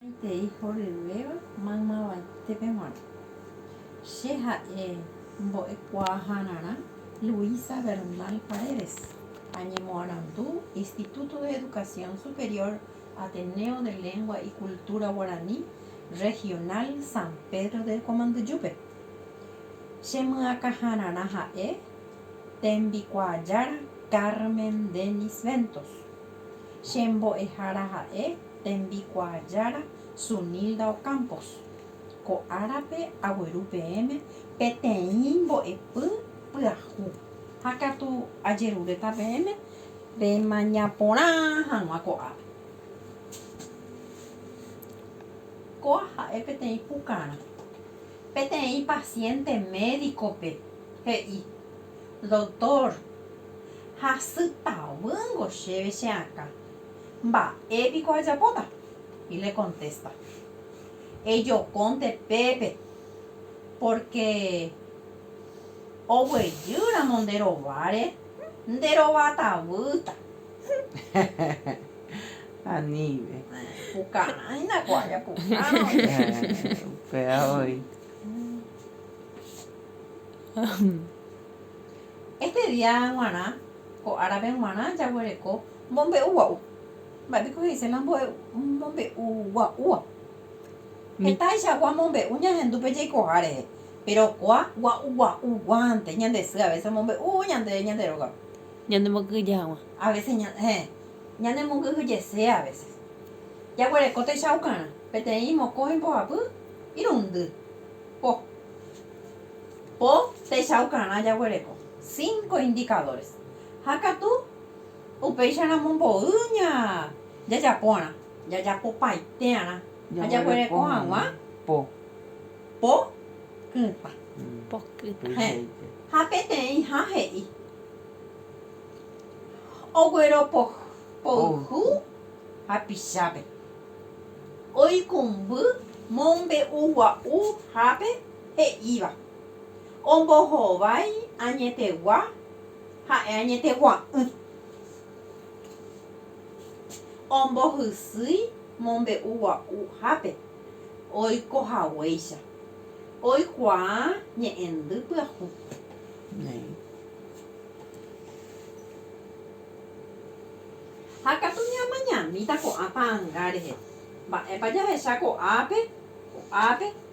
Añoitei horyvéva maymavaítépe g̃uarã. Che ha'e mbo'ekuaahararã Luisa Bernal Paredes, añemoarandu Instituto de Educación Superior Ateneo de Lengua y Cultura Guaraní Regional San Pedro de Comandujupe. Chemyakãhararã ha'e tembikuaajára Carmen Dennis Ventos. Che mbo'ehára ha'e Tembikuaajára Sunilda Ocampos, Ko árape agueru peẽme peteĩ mbo'epy pyahu ha katu ajerureta peẽme pemañaporã hag̃ua ko ápe. Kóa ha'e peteĩ pukarã. Peteĩ pasiénte médikope he'i, Doktór, hasy tavýngo chéve che akã. Mba'e piko ajapóta? Y le contesta, Ejokónte pépe, porque oguejy ramo nde rováre, nde rova tavýta. Aníve. Pukarãina ko ára pukárõ. Upéva voi. Este día g̃uarã, ko árape g̃uarã, jaguereko mombe'u gua'u. Mba'e piko he'ise la mombe'u gua'úva? Hetaichagua mombe'u ñahendu pe jaikoha rehe, péro kua gua'u gua'uguánte ñande sy avese omombe'u ñande ñande rógape. Ñanemokyhyje hag̃ua. Avese, héẽ, ñanemokyhyjese avese. Jaguereko techaukarã, peteĩ mokõi mbohapy irundy. Po. Ko techaukarã jaguereko cinco indicadores ha katu upéicharamo mboy ña jajapórã, jajapopaitearã ha jaguereko hag̃ua po po kytã. Po kytã. Hẽ, ha peteĩha he'i, Ogueropoyhu hapichápe, oikumby mombe'ugua'u hápe, he'íva, Ombohovái añetegua ha'e añetegua'ỹ, ombohysýi mombe'u gua'uhápe oiko haguéicha, oikuaa ñe'ẽndy pyahu. Ha katu ñamañamíta ko'ã ta'anga rehe, mba'épa jahecha ko'ápe, ko'ápe,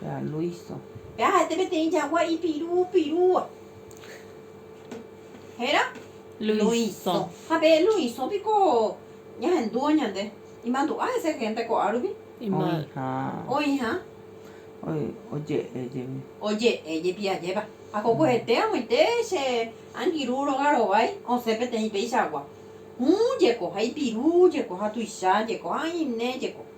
Péa Luiso. Péa ha'ete peteĩ jagua ipiru pirúva. Héra? Luiso. Ha pe Luiso piko ñahendúvo ñande. Imandu'a hese hénte ko'ã rupi? Oĩha. Oĩha. Oje'e jepi. Oje'e jepi ajépa. Ha kokohete ag̃uite che angirũ róga rovái osẽ peteĩ péichagua. Hũ jeko ha ipiru jeko ha tuicha jeko ha oine jeko.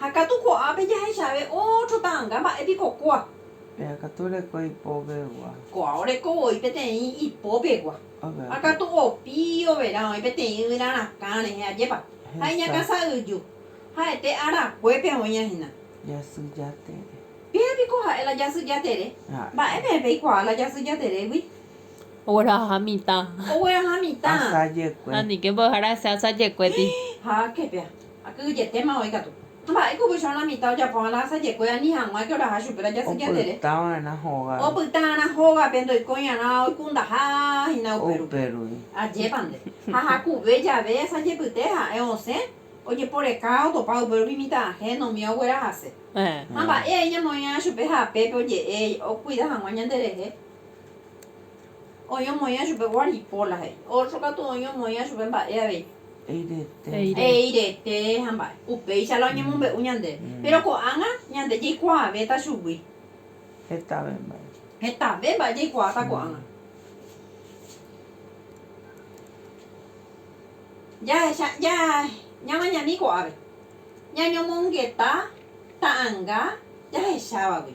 Ha katu ko'ápe jahechave ótro ta'anga mba'e piko kua. Péa katu reko ipópegua. Ko'a oreko voi peteĩ ipópegua. Ha katu opi overã oĩ peteĩ yvyra rakã rehe ajépa. Ha iñakãsa yju. Ha'ete arakuépe oĩa hína. Jasy Jatere. Péa piko ha'e la Jasy Jatere? Mba'e peẽ peikuaa la Jasy Jaterégui? Ogueraha mitã. Ogueraha mitã. Asajekue. Ha nike mbo'ehára hese asajekuéti. Héẽ, ha ke péa. Ha kyhyjetéma oĩ katu. Mba'e kuvychõrõ la mitã ojapóva la asajekue ani hag̃ua ke oraha chupe la jasy jatere. Opyta va'erã hógape. Opyta va'erã hógape ndoikóira'ã oikundaha hína upe rupi. Upe rupi. Ajépa nde. Ha jakuve jave asajepyte ha'e osẽ ojeporeka otopa upe rupi mitã ajéno umi oguerahase. Ha mba'e aĩ ñamoĩra'ã chupe ha apépe oje'e okuida hag̃ua ñanderehe. Oĩ omoĩva chupe ko aripo, la he'i. Ótro katu oĩ omoĩva chupe mba'e avei. He'i rete ha mba'e. Upéicha la oñemombe'u ñandéve. Péro ko'ág̃a ñande jaikuaavéta chugui. Hetave mba'e jaikuaáta ko'ág̃a. Jahecha ñamañami ko'ápe ñañomongeta ta'anga jahechávagui.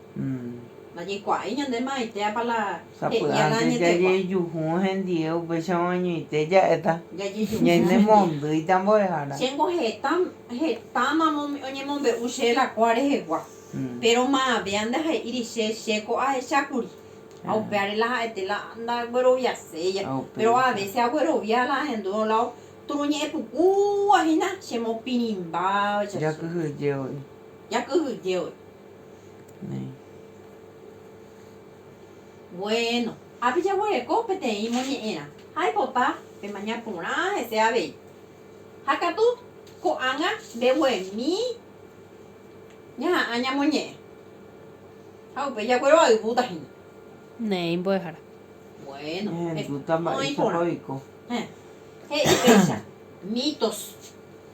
Ndajaikuaái ñande maitéapa la he'íaga añetegua. Sapy'ánte jajejuhu hendie upéicharõ añoite ja'éta ñanemondýita mbo'ehára. Chéngo heta, hetámamo oñemombe'u che la ko'a rehegua. Péro ma'avea ndaha'éiri che, che ko ahechákuri. Ha upévare la ha'ete la ndagueroviaséi. Péro avése aguerovia la ahendu lado turu ñe'ẽpukúva hína chemopirĩmbávacha che. Jakyhyje voi. Bueno, ápe jaguereko peteĩ moñe'ẽrã ha aipota pemaña porã hese avei. Ha katu ko'ág̃a mbeguemi ñaha'ã ñamoñe'ẽ. Ha upéi jaguero ayvúta hína. Néi mbo'ehára. Bueno, oĩ porã. He'i péicha, mitos.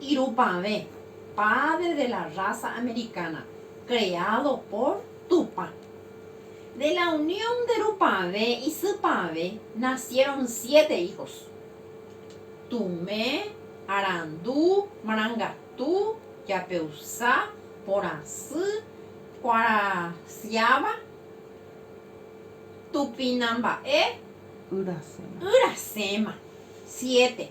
Irupavẽ, Padre de la raza americana, creado por Tupã. De la unión de Rupavẽ y Sypavẽ nacieron siete hijos, Tumẽ, Arandu, Marangatu, Japeusa, Porãsy, Kuarasyáva, Tupinamba'e, Yrasẽma. Siete.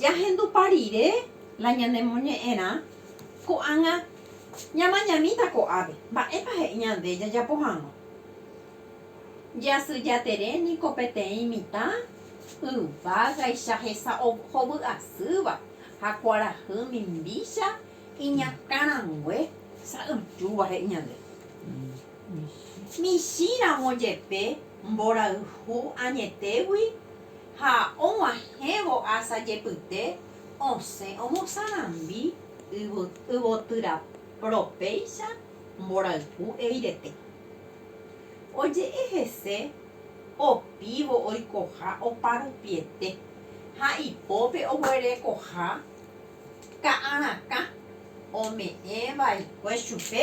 Jahendupa rire la ñanemoñe'ẽrã, ko'ág̃a ñamañamíta ko'ápe. Mba'épa he'i ñande jajapo hag̃ua? Jasy jatere niko peteĩ mitã yvágaicha hesahovy'asýva ha kuarahy mimbícha iñakã rangue sa'yjúva, he'i ñande. Michĩramo jepe, mborayhu añetégui ha og̃uahẽvo asa jepyte osẽ omosarambi yvotyraprõ péicha mborayhu eirete. Oje'e hese opívo oikoha oparupiete ha ipópe oguerekoha ka'arakã ome'ẽ vaikue chupe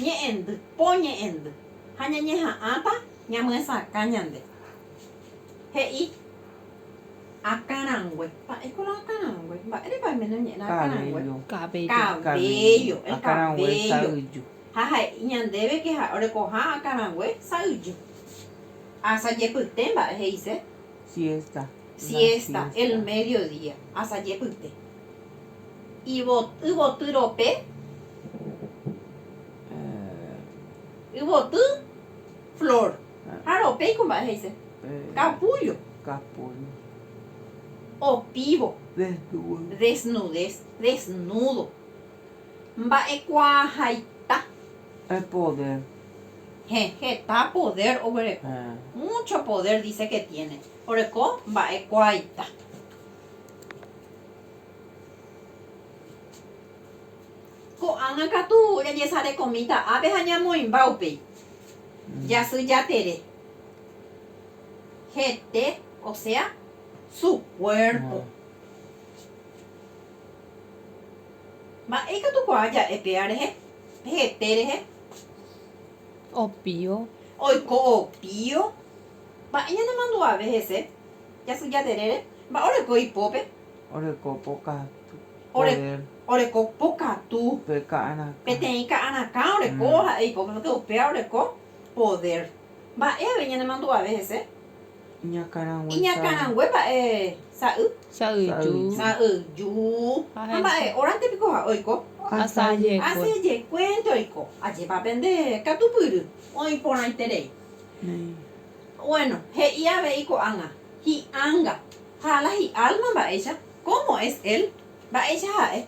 Ñe'ẽndy, po ñe'ẽndy. Ha ñañeha'ãta ñamyesakã ñande. He'i. Akã rangue. Mba'éiko la akã rangue? Mba'érepa oime noñe'ẽrã akã rangue? Cabello. El cabello. Ha he'i ñandéve ke ha'e orekoha akã rangue sa'yju. Asajepyte mba'e he'ise. Siesta. El medio día. Asajepyte. Yvoty rope, yvoty flor. Ha rope ikumba'e he'ise, capullo. Opívo, desnudez, desnudo. Mba'ekuaahaita. Poder. Hẽ, heta poder oguereko. Mucho poder dice que tiene. Oreko mba'ekuaaita. Ko'ág̃a katu jajesarekomíta ápe ha ñamoĩmba upéi. Jasy Jatere. Hete, osea, su kuérpo. Mba'e ikatukuaa ja'e péva rehe, pe hete rehe? Opio. Oiko opio. Mba'e ñanemandu'ave hese? Jasyja terére. Mba'e oreko ipópe? Oreko pokatu poder. Oreko pokatu. Pe ka'arakã. Peteĩ ka'arakã oreko ha'e ipópe, porque upéva oreko poder. Mba'eve ñanemandu'ave hese? Iñakãrangue sa'y. Iñakãrangue mba'e sa'y? Sa'yju. Sa'yju. Ha mba'e órante piko ha'e oiko? Asajekue. Asajekuénte oiko. Ajépa pende katupyry oĩ porãiterei. Néi. Bueno, he'i avei ko'ág̃a, hi'anga. Ha la hi'alma mba'éicha, cómo es él? Mba'éicha ha'e?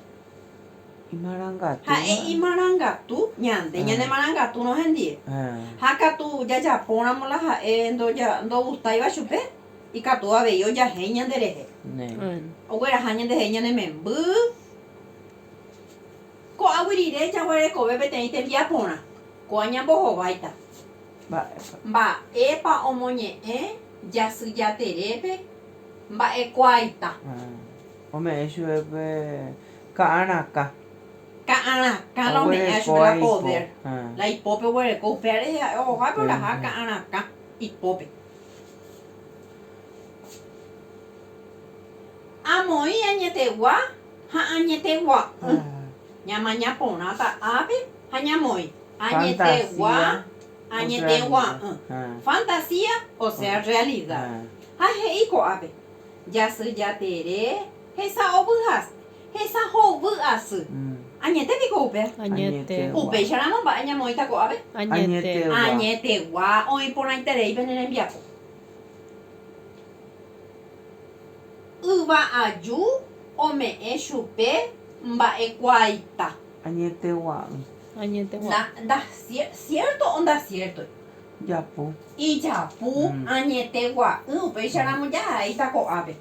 Imarangatúva. Ha'e imarangatu, ñande ñanemarangatu'rõ hendie. Ha katu jajapóramo la ha'e ndogustáiva chupe, ikatu avei ojahéi ñanderehe. Ogueraha ñandehe ñane memby. Ko'águi rire jaguerekove peteĩ tembiaporã. Ko'ã ñambohováita. Mba'épa? Mba'épa omoñe'ẽ Jasy Jaterépe mba'ekuaaita? Ome'ẽ chupe pe ka'arakã. Ka'arakã la ome'ẽva chupe la podér. La ipópe oguereko. Upéva rehe ha'e ohohápe oraha ka'arakã ipópe. Amoĩ añetegua ha añetegua'ỹ. Ñamaña porãta ápe Ha ñamoĩ, añetegua, añetegua'ỹ. Fantasía, osea rrealida. Ha he'i ko'ápe, Jasy jatere, hesa ovy'asy, hesa hovy asy. Añete piko upéva? Añete. Upéicharamo mba'e ñamoĩta ko'ápe? Añete. Añetegua oĩ porãiterei pene rembiapo. Yva aju ome'ẽ chupe mba'ekuaaita. Añete gua'ỹ. Ndasiérto o ndasiértoi. Japu. Ijapu. Añete gua'ỹ. Upéicharamo jahaíta ko'ápe.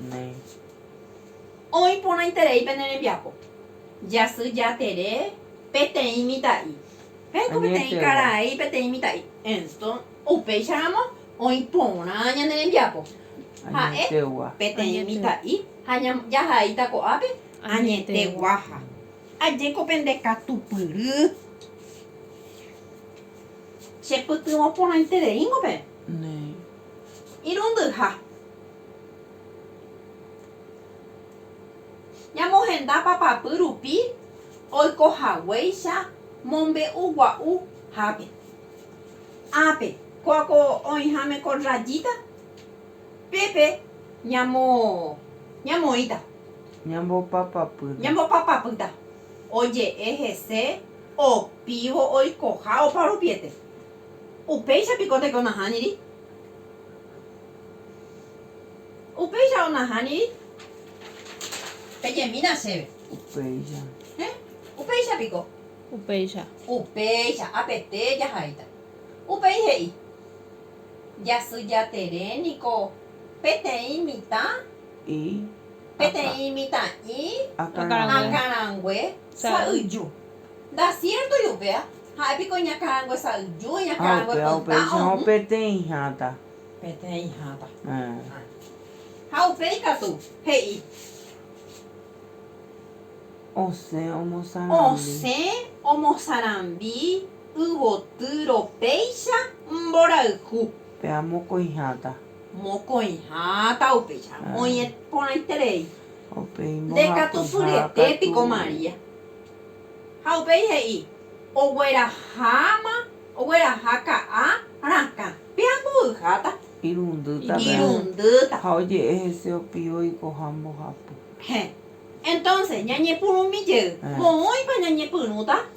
Oĩ porãiterei pene rembiapo. Jasy jatere peteĩ mitã'i. Ha'éko peteĩ karai, peteĩ mitã'i. Upéicharamo oĩ porã ñane rembiapo. Ha'e peteĩ mitã'i ha jahaíta ko'ápe añete guaha. Ajeko pende katupyry. Chepytyvõ porãitereíngo pe irundyha. Ñamohenda papapy rupi oikohaguéicha mombe'u gua'u hápe. Ápe, ko oĩháme ko rrayíta. Pépe ñamo, ñamoĩta. Ñambopapapýta. Ñambopapapýta. Oje'e hese opívo oikoha oparupiete. Upéicha piko teko nahániri? Upéicha onahániri? Pejemína chéve. Upéicha. Héẽ? Upéicha piko? Upéicha. Upéicha. Apete jahaíta. Upéi he'i. Jasy Jatere niko peteĩ mitã, peteĩ mitã'i, akãrangue sa'yju. Ndasiértoi upéva, ha'e piko iñakãrangue sa'yju, iñakãrangue pytã ohũ. Peteĩ hãta. Ha upéi katu he'i. Osẽ omosarambi. Yvotýro péicha mborayhu. Pe a mokõiháta. Mokõiháta upéicha. Oĩ porãiterei. Upéi mbohapyhápe. Nde katu fyrete piko María. Ha upéi he'i, Ogueraháma, ogueraha ka'a rakã. Pe a mbovyháta. Irundýta pe a. Irundýta. Ha oje'e hese opio oikoha mbohapy. Héẽ. Entonces, ñañepyrũmi jey, moõipa ñañepyrũta?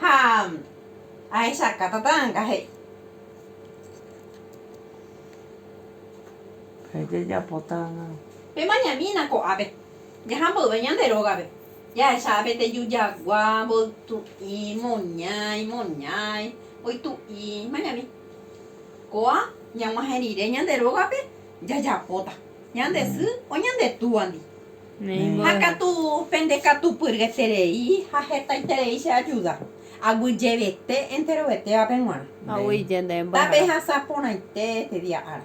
Ha ahechaka tata anga he'i. Ha jajapo tanga. Pe mañamína ko'ápe, jaha mboyve ñande rógape, jahecha pe teju jagua, mboytu'i, moñái, moñái, mboytu'i, mañami. Ko'a ñag̃uahẽ rire ñande rógape, jajapóta, ñande sy o ñande túandi. Ha katu pende katupyryeterei ha hetaiterei che ajuda, aguyjevete enterovetévape g̃uarã. Tápe hasã porãite este día ára.